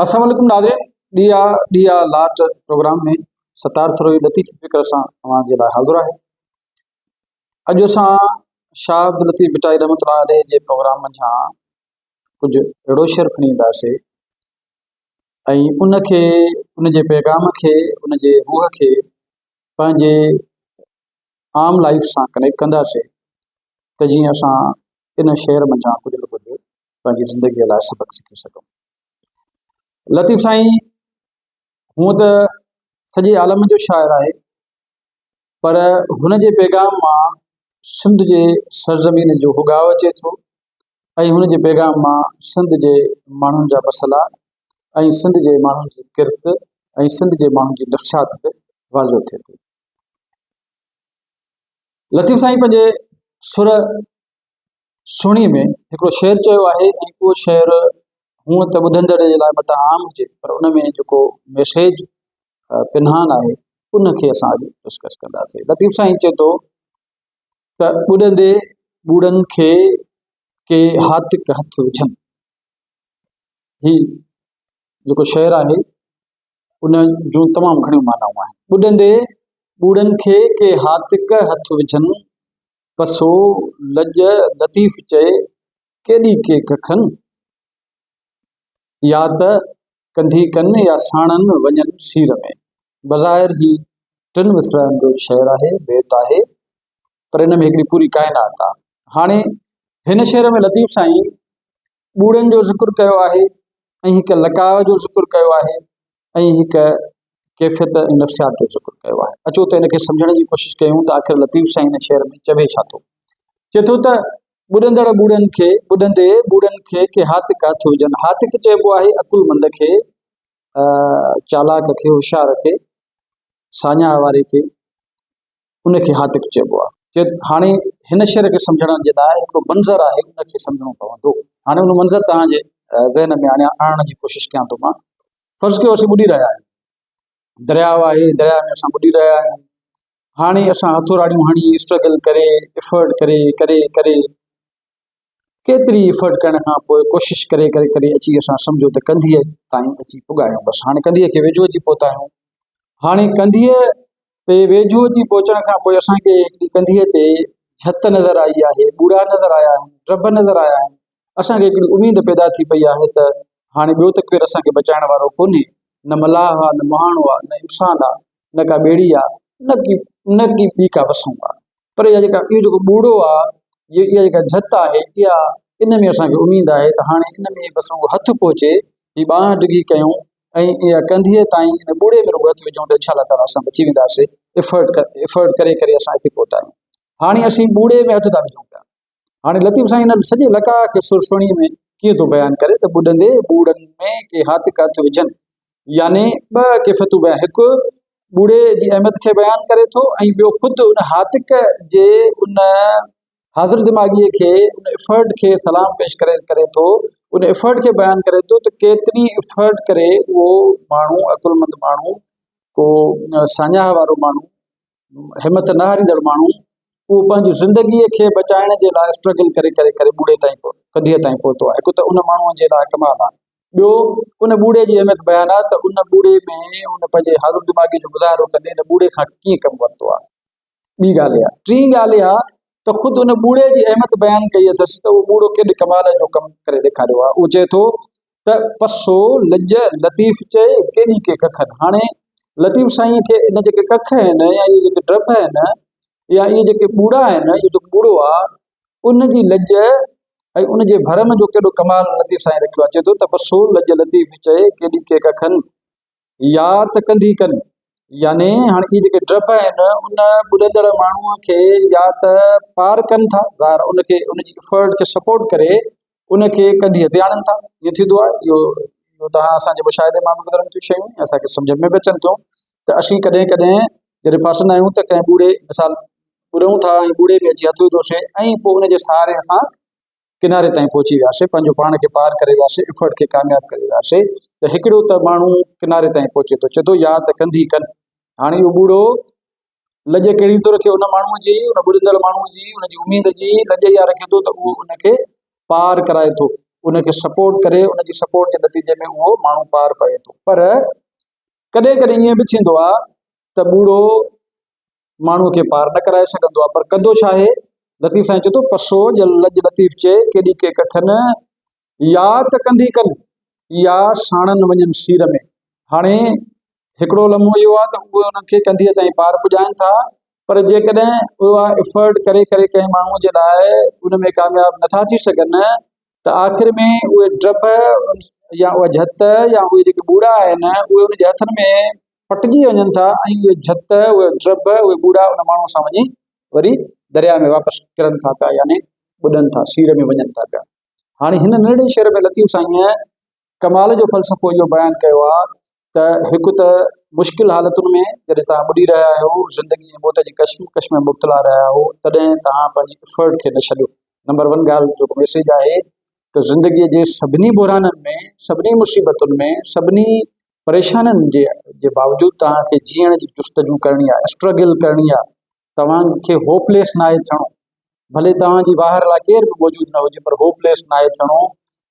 السلام عليڪم ناظرين ڏيئا ڏيئا لاٽ پروگرام ۾ ستار سروي لطيف فڪر سان اوهان جي لاء حاضر آهي اڄ اسان شاهه عبد لطيف بٽائي رحمت الله عليه جي پروگرام منجهان ڪجهه اهڙو شعر کڻي اينداسي ۽ ان کي ان جي پيغام کي ان جي روح کي پنهنجي عام لائيف سان ڪنيڪٽ ڪنداسين ته جيئن اسان ان شعر منجهان ڪجهه نه ڪجهه پنهنجي زندگيء لاء سبق سکي سگهون لطيف سائين هونء ته سڄي عالم جو شاعر آهي پر هن جي پيغام مان سنڌ جي سرزمين جو هڳاء اچي ٿو ۽ هن جي پيغام مان سنڌ جي ماڻهن جا مسئلا ۽ سنڌ جي ماڻهن جي ڪرت ۽ سنڌ جي ماڻهن جي نفسيات به واضح ٿئي ٿي. لطيف سائين پنهنجي سر سهڻي ۾ هڪڙو شعر چيو آهي ۽ اهو شعر هونء ته ٻڌندڙ جي لاء متان عام هجي پر ان ۾ جيڪو ميسيج پنهان آهي ان کي اسان اڄ ڊسڪس ڪنداسين لطيف سائين چئي ٿو ته ٻڏندي ٻوڙن کي ڪي هاتڪ هٿ وجهن. هي جيڪو شعر آهي ان جون تمام گهڻيون معنائون آهن. ٻڏندي ٻوڙن کي ڪي هاتڪ هٿ وجهن، پسو لڄ لطيف چئي ڪيڏي ڪيڪ کن. يا ته ڪنڌي ڪن يا ساڻن وڃن سير ۾. بظاهر هي ٽن مصرعن جو شعر آهي، بيت آهي، پر ان ۾ هڪڙي پوري ڪائنات آهي. هاڻي هن شعر ۾ لطيف سائين ٻوڙن جو ذڪر ڪيو آهي ۽ هڪ لقاء جو ذڪر ڪيو آهي ۽ هڪ ڪيفيت ۽ نفسيات جو ذڪر ڪيو آهي. اچو ته ان کي سمجهڻ جي ڪوشش ڪيون ته آخر لطيف سائين هن شعر ۾ چوي ڇا ٿو؟ چئي ٿو ته. ٻڏندڙ ٻوڙن کي، ٻڏندي ٻوڙن کي ڪي هاتڪا ٿوجن. هاتڪ چئبو آهي عقلمند کي، چالاڪ کي، هوشيار کي، ساڃاهه واري کي، ان کي هاتڪ چئبو آهي. چئي ته هاڻي هن شعر کي سمجهڻ جي لاء هڪڙو منظر آهي، ان کي سمجهڻو پوندو. هاڻي ان منظر توهان جي ذهن ۾ آڻيا، آڻڻ جي ڪوشش ڪيان ٿو مان. فرض ڪيو اسين ٻڏي رهيا آهيون، درياء آهي، درياء ۾ اسان ٻڏي رهيا آهيون. هاڻي اسان هٿوراڙيون هڻي اسٽرگل ڪري افرٽ ڪري ڪري ڪري ڪيتري افرٽ ڪرڻ کان پوء ڪوشش ڪري ڪري ڪري اچي اسان سمجهو ته ڪنڌيء تائين اچي پڳا آهيون بس هاڻي ڪنڌيء کي ويجهو اچي پهتا آهيون هاڻي ڪنڌيء تي ويجهو اچي پهچڻ کان پوء اسان کي هڪڙي ڪنڌيء تي جهت نظر آئي آهي ٻوڙا نظر آيا آهن ٽب نظر آيا آهن اسان کي هڪڙي اميد پيدا ٿي پئي آهي ته هاڻي ٻيو ته ڪير اسان کي بچائڻ وارو ڪونهي، نه ملاح آ، نه مهاڻو آ، نه انسان آ، نه ڪا ٻيڙي آ، نه ڪي نه ڪي ٻي ڪا وسون آ. پر اها جيڪا اهو جيڪو ٻوڙو آ، جي اها جيڪا جهت آهي، اها ان ۾ اسان کي اميد آهي ته هاڻي ان ۾ بس رڳو هٿ پهچي، هي ٻانهن ڊگهي ڪيون ۽ اها ڪنڌيء تائين ان ٻوڙي ۾ رڳو هٿ وجهون ته انشاءالله تعاليٰ اسان بچي وينداسين. ايفرٽ ڪري ايفرٽ ڪري ڪري اسان هتي پهتا آهيون. هاڻي اسين ٻوڙي ۾ هٿ ٿا وجهون پيا. هاڻي لطيف سائين هن سڄي لقاء کي سرسوڻي ۾ ڪيئن ٿو بيان ڪري ته ٻڏندي ٻوڙن ۾ ڪي هاٿ ڪا ٿيو وجهن يعني ٻه ڪيفتون بيان هڪ ٻوڙي جي اهميت کي بيان ڪري ٿو ۽ ٻيو خود ان هاتڪ جي ان حاضر دماغي کي ان افرٽ کي سلام پيش ڪري ڪري ٿو ان افرٽ کي بيان ڪري ٿو ته ڪيتري افرٽ ڪري اهو ماڻهو عقلمند ماڻهو ڪو ساڃاهه وارو ماڻهو همٿ نه هاريندڙ ماڻهو اهو پنهنجي زندگيء کي بچائڻ جي لاء اسٽرگل ڪري ڪري ڪري ٻوڙي تائين ڪڌيء تائين پهتو آهي. هڪ ته ان ماڻهوء جي لاء ڪمال آهي. ٻيو ان ٻوڙي جي اهميت بيان آهي ته ان ٻوڙي ۾ هن پنهنجي حاضر دماغي جو مظاهرو ڪندي ان ٻوڙي کان ڪيئن ڪم ورتو آهي. ٻي ڳالهه اها. ٽين ڳالهه اها ته خود ان ٻوڙي جي اهميت بيان ڪئي اٿس ته اهو ٻوڙو ڪيڏي ڪمال جو ڪم ڪري ڏيکاريو آهي. اهو چئي ٿو ته پسو لڄ لطيف چئي ڪيڏي ڪي ڪکن. هاڻي لطيف سائينء کي ان جيڪي ڪک آهن يا اهي جيڪي ڊڀ آهن يا اهي جيڪي ٻوڙا آهن، اهو جيڪو ٻوڙو آ، ان جي لڄ ۽ ان جي ڀرم جو ڪيڏو ڪمال لطيف سائين رکيو آ. چئي ٿو ته پسو لڄ لطيف چئي ڪيڏي ڪي ڪکن. يا ته ڪنڌي ڪن، يعني هاڻي اهي جيڪي ڊڀ آهن ان ٻڏندڙ ماڻهوء کي يا ته پار ڪن ٿا، ظاهر ان کي ان جي افرٽ کي سپورٽ ڪري ان کي ڪنڌيء تي آڻن ٿا. ائين ٿيندو آهي. اهو اهو تهان اسان جي مشاهدي مان به گذرن ٿيون شيون ۽ اسان کي سمجهه ۾ به اچن ٿيون ته اسين ڪڏهن ڪڏهن جڏهن ڦاسندا آهيون ته ڪنهن ٻوڙي مثال ٻڏون ٿا ۽ ٻوڙي ۾ اچي هٿ وڌوسين ۽ پوء ان جي سهاري اسان ڪناري تائين پهچي وياسي پنهنجو پاڻ کي پار ڪري وياسي افرڊ کي ڪامياب ڪري وياسي ته هڪڙو ته ماڻهو ڪناري تائين پهچي ٿو چي ٿو يا ته ڪنڌي ڪن هاڻي اهو ٻوڙو لڄ ڪهڙي ٿو رکي ان ماڻهو جي ان ٻڏندڙ ماڻهو جي ان جي اميد جي لڄ يا رکي ٿو ته اهو ان کي پار ڪرائي ٿو ان کي سپورٽ ڪري ان جي سپورٽ جي نتيجي ۾ اهو ماڻهو پار پوي ٿو پر ڪڏهن ڪڏهن ائين به ٿيندو آهي ته ٻوڙو ماڻهوء کي پار نه ڪرائي سگهندو آ پر ڪندو ڇا آهي؟ لطيف سائين چئي ٿو، پسو ڄل لڄ لطيف چئي ڪيڏي ڪي ڪٺن، يا ته ڪنڌي ڪن، يا ساڻن وڃن سير ۾. هاڻي هڪڙو لمحو اهو آ ته اهي انهن کي ڪنڌيء تائين پار پڄائين ٿا، پر جيڪڏهن اها افرٽ ڪري ڪري ڪنهن ماڻهوء جي لاء ان ۾ ڪامياب نه ٿا ٿي سگهن ته آخر ۾ اهي ڊڀ يا اها جهت يا اهي جيڪي ٻوڙا آهن، اهي ان جي هٿن ۾ ڦٽجي وڃن ٿا ۽ اهي جھت، اهي ڊرڀ، اهي ٻوڙا ان ماڻهوء سان وڃي وري درياء ۾ واپس ڪرن ٿا پيا يعني ٻڏن ٿا، سيڙهه ۾ وڃن ٿا پيا. هاڻي هن ننڍڙي شعر ۾ لطيف سائينء ڪمال جو فلسفو اهو بيان ڪيو آهي ته هڪ ته مشڪل حالتن ۾ جڏهن توهان ٻڏي رهيا آهيو، زندگي ۽ موت جي ڪشمڪش ۾ مبتلا رهيا آهيو، تڏهن توهان پنهنجي افرٽ کي نه ڇڏيو. نمبر ون ڳالهه جيڪو ميسيج آهي ته زندگيء جي سڀني بحرانن ۾، سڀني مصيبتن ۾، سڀني پريشانين جي باوجود توهان کي جيئڻ جي جستجو ڪرڻي آهي اسٽرگل ڪرڻي آهي توهان کي هوپليس ناهي ٿيڻو ڀلي توهان جي واهر لاء ڪير به موجود نه هجي پر هوپليس ناهي ٿيڻو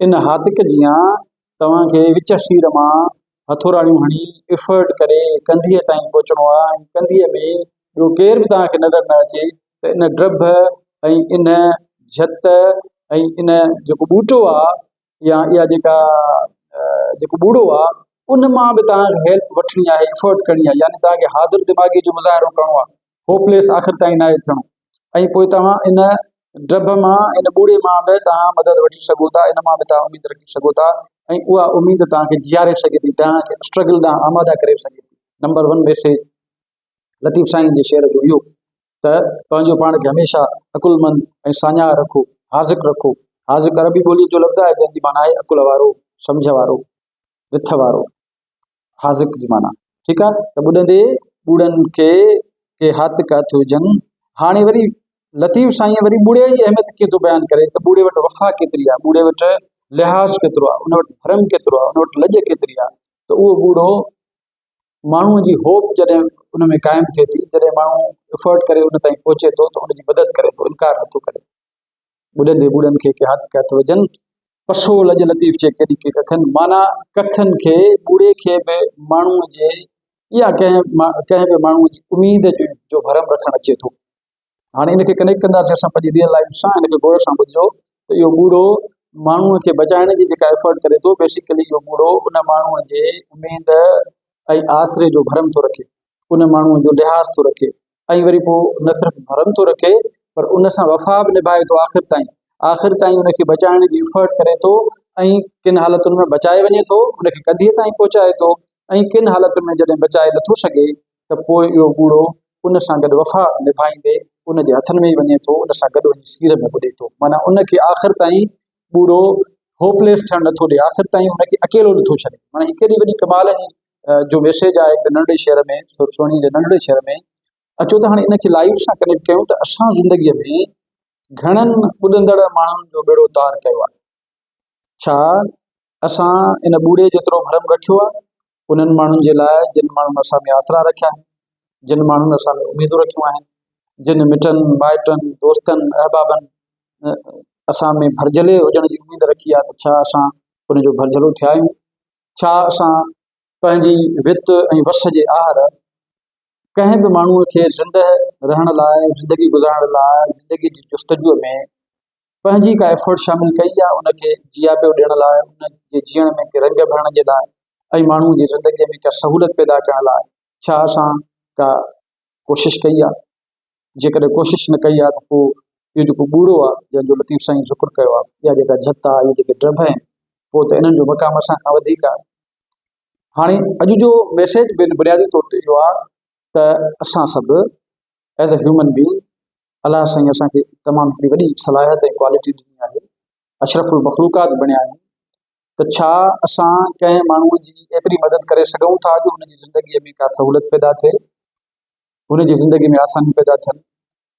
ان هاتڪ جيان توهان کي وچ سير مان هٿوراڙيون هڻي افرٽ ڪري ڪنڌيء تائين پهچڻو آهي ۽ ڪنڌيء ۾ ٻيو ڪير به توهان کي نظر نه اچي ته ان ڊڀ ۽ ان جهت ۽ ان جيڪو ٻوٽو آهي يا اها جيڪا جيڪو ٻوڙو آ ان مان به توهان کي هيلپ وٺڻي آهي افورٽ ڪرڻي آهي يعني توهان کي حاضر دماغي جو مظاهرو ڪرڻو آهي هوپليس آخر تائين ناهي ٿيڻو ۽ پوء توهان ان ڊب مان ان ٻوڙي مان به توهان مدد وٺي سگهو ٿا ان مان به توهان اميد رکي سگهو ٿا ۽ اها اميد توهان کي جياري سگهي ٿي توهان کي اسٽرگل ڏانهن آماده ڪري سگهي ٿي number one message Latif sain جي شعر جو اهو ته پنهنجو پاڻ کي هميشه عقلمند ۽ ساڃاهه رکو، حاذق رکو. حاذق عربي ٻوليء جو لفظ آهي، جنهن جي معنيٰ آهي عقل وارو، سمجهه وارو، رٿ وارو. حاذق جي معنيٰ ٺيڪ آهي ته ٻڏندي ٻوڙن کي ڪي حاطق هٿ هجن. هاڻي وري لطيف سائينء وري ٻوڙي جي اهميت کي ٿو بيان ڪري ته ٻوڙي وٽ وفا ڪيتري آهي، ٻوڙي وٽ لحاظ ڪيترو آهي، ان وٽ ڀرم ڪيترو آهي، ان وٽ لڄ ڪيتري آهي ته اهو ٻوڙو ماڻهوء جي هوپ جڏهن ان ۾ قائم ٿئي ٿي، جڏهن ماڻهو افورٽ ڪري ان تائين پهچي ٿو ته ان جي مدد ڪري ٿو، انڪار نٿو ڪري. ٻڏندي ٻوڙن کي ڪي هٿ ڪي هٿ وجهن. پسو لڄ لطيف چي ڪيڏي ڪي ڪکن، معنيٰ ڪکن کي، ٻوڙي کي به ماڻهوء جي يا ڪنهن ڪنهن به ماڻهوء جي اميد جي جو ڀرم رکڻ اچي ٿو. هاڻي ان کي ڪنيڪٽ ڪنداسين اسان پنهنجي ريئل لائف سان ان کي غور سان ٻڌجو ته اهو ٻوڙو ماڻهو کي بچائڻ جي جيڪا ايفرٽ ڪري ٿو بيسيڪلي اهو ٻوڙو ان ماڻهو جي اميد ۽ آسري جو ڀرم ٿو رکي ان ماڻهو جو لحاظ ٿو رکي ۽ وري پوء نه صرف ڀرم ٿو رکي پر ان سان وفا به نڀائي ٿو آخر تائين آخر تائين ان کي بچائڻ جي ايفرٽ ڪري ٿو ۽ ڪن حالتن ۾ بچائي وڃي ٿو ان کي ڪڌيء تائين پهچائي ٿو ۽ ڪن حالتن ۾ جڏهن بچائي نٿو سگهي ته پوء اهو ٻوڙو ان سان گڏ وفا نڀائيندي ان جي هٿن ۾ ئي وڃي ٿو، ان سان گڏ وڃي سير ۾ ٻڏي ٿو. معنيٰ ان کي آخر تائين ٻوڙو Hopeless ٿيڻ نه ٿو ڏئي، آخر تائين ان کي اڪيلو نه ٿو ڇڏي. معنيٰ هي ڪيڏي وڏي ڪمال جي جو ميسيج آهي هڪڙي ننڍڙي شهر ۾ سر سهڻي جي ننڍڙي شهر ۾. اچو ته هاڻي ان کي لائيف سان ڪنيڪٽ ڪيون ته اسان زندگيء ۾ گهڻن ٻڏندڙ ماڻهن جو ٻيڙو تار ڪيو آهي. ڇا اسان ان ٻوڙي جيترو ڀرم رکيو آهي، انهن ماڻهن جي لاء جن ماڻهن اسان ۾ آسرا رکيا آهن، جن ماڻهن اسان ۾ اميدون رکيون آهن، جن مٽن، مائٽن، دوستن، احبابن اسان ۾ ڀرجهلي هجڻ جي اميد رکي آهي ته ڇا اسان ان جو ڀرجهلو ٿيا آهيون؟ ڇا اسان پنهنجي وت ۽ وس جي آهر ڪنهن به ماڻهوء کي زندهه رهڻ لاء، زندگي گذارڻ لاء، زندگيء جي جستجوء ۾ پنهنجي ڪا ايفرٽ شامل ڪئي آهي، ان کي جياپيو ڏيڻ لاء، ان جي جيئڻ ۾ ڪي رنگ ڀرڻ جي لاء ۽ ماڻهوء جي زندگيء ۾ ڪا سهولت پيدا ڪرڻ لاء ڇا اسان ڪا ڪوشش ڪئي آهي؟ جيڪڏهن ڪوشش نه ڪئي آهي ته پوء اهو جيڪو ٻوڙو آهي، جنهن جو لطيف سائين ذڪر ڪيو آهي، اها جيڪا جهت آهي، اهي جيڪي ڊڀ آهن، پوء ته انهن جو مقام اسان کان وڌيڪ آهي. هاڻي اڄ جو ميسيج بنيادي طور تي اهو آهي ته اسان سڀ ايز اي هيومن بينگ الله سائين اسان کي تمام هڪڙي وڏي صلاحيت ۽ ڪوالٽي ڏني آهي اشرف المخلوقات بڻيا آهيون ته ڇا اسان ڪنهن ماڻهو جي ايتري مدد ڪري سگهون ٿا جو هن جي زندگي ۾ ڪا سهولت پيدا ٿئي هن جي زندگي ۾ آسانيون پيدا ٿين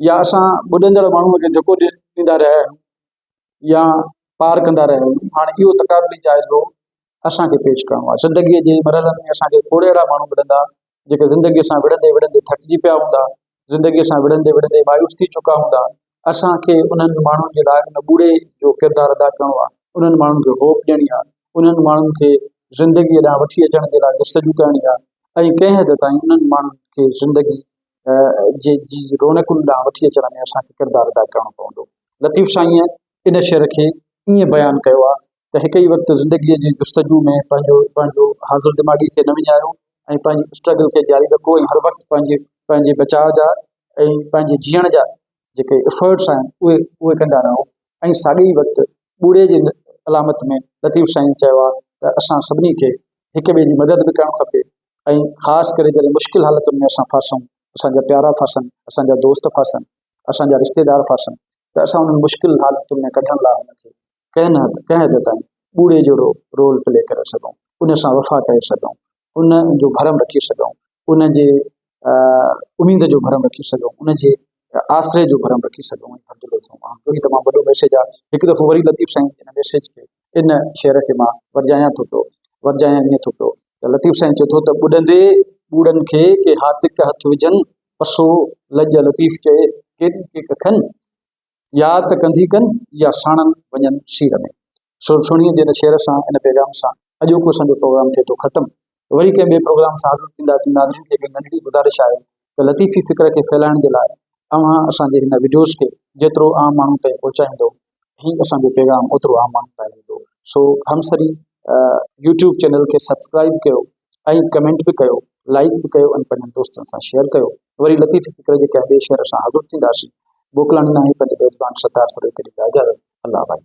يا اسان ٻڏندڙ ماڻهو کي جهڪو ڏيندا رهيا آهيون يا پار ڪندا رهيا آهيون هاڻي اهو تقابلي جائزو اسان کي پيش ڪرڻو آهي زندگيء جي مرحلن ۾ اسان کي کوڙ اهڙا ماڻهو ملندا جيڪي زندگيء سان وڙهندي وڙهندي ٿڪجي پيا هوندا زندگيء سان وڙهندي وڙهندي مايوس ٿي چڪا هوندا اسان کي انهن ماڻهن جي لاء ان ٻوڙي جو ڪردار ادا ڪرڻو آهي انهن ماڻهن کي هوپ ڏيڻي آهي انهن ماڻهن کي زندگيء ڏانهن وٺي اچڻ جي لاء جستجو ڪرڻي آهي ۽ ڪنهن حد تائين انهن ماڻهن کي زندگي جي جي رونقن ڏانهن وٺي اچڻ ۾ اسان کي ڪردار ادا ڪرڻو پوندو. لطيف سائينء ان شعر کي ائين بيان ڪيو آهي ته هڪ ئي وقت زندگيء جي جستجو ۾ پنهنجو پنهنجو حاضر دماغي کي نه وڃايو ۽ پنهنجي اسٽرگل کي جاري رکو ۽ هر وقت پنهنجي پنهنجي بچاء جا ۽ پنهنجي جيئڻ جا جيڪي افرٽس آهن اهي اهي ڪندا رهو ۽ ساڳي ئي وقت ٻوڙي جي علامت ۾ لطيف سائين چيو آهي ته اسان سڀني کي هڪ ٻئي جي مدد به ڪرڻ کپي ۽ خاص ڪري جڏهن مشڪل حالتن ۾ اسان ڦاسون، اسان جا پيارا ڦاسن، اسان جا دوست ڦاسن، اسان جا رشتيدار ڦاسن ته اسان انهن مشڪل حالتن ۾ ڪڍڻ لاء هن کي ڪنهن نه ڪنهن حد تائين ٻوڙي جهڙو رول پلي ڪري سگهون، ان سان وفا ڪري سگهون، ان جو ڀرم رکي سگهون، ان جي اميد جو ڀرم رکي سگهون، ان جي آسري جو ڀرم رکي سگهون ۽ ڀرجهلو ٿيون. اهو ئي تمام وڏو ميسيج آهي. هڪ دفعو وري لطيف سائين ان ميسيج کي ان شعر کي مان ورجايان ٿو پيو، ورجايان ائين ٿو پيو ته لطيف سائين چئي ٿو ته ٻڏندي ٻوڙن کي ڪي هاتڪ هٿ وجهن، پسو لڄ لطيف چئي ڪيڏي ڪي ڪکن، يا ته ڪنڌي ڪن يا ساڻن وڃن سير ۾. سو سهڻيء جي ان شعر سان، ان پيغام سان اڄوڪو اسان جو پروگرام ٿئي ٿو ختم. وري ڪنهن ٻئي پروگرام سان حاضر ٿينداسين ناظرين کي هڪ ننڍڙي گذارش آهي ته لطيفي فڪر کي ڦهلائڻ جي لاء اوهان اسان جي هن وڊيوز کي جيترو عام ماڻهن تائين پهچائيندو هي اسان جو پيغام اوترو عام ماڻهن تائين ويندو سو همسري يوٽيوب چينل کي سبسڪرائيب ڪيو ۽ ڪمينٽ به ڪيو لائيڪ به ڪيو ۽ پنهنجن دوستن سان شيئر ڪيو وري لطيفي فڪر جي ڪنهن ٻئي شهر سان حاضر ٿينداسين موڪلاڻي ناهي پنهنجي ميزبان ستار سرويڪر کي ڏيندا اجازت الله ڀائي.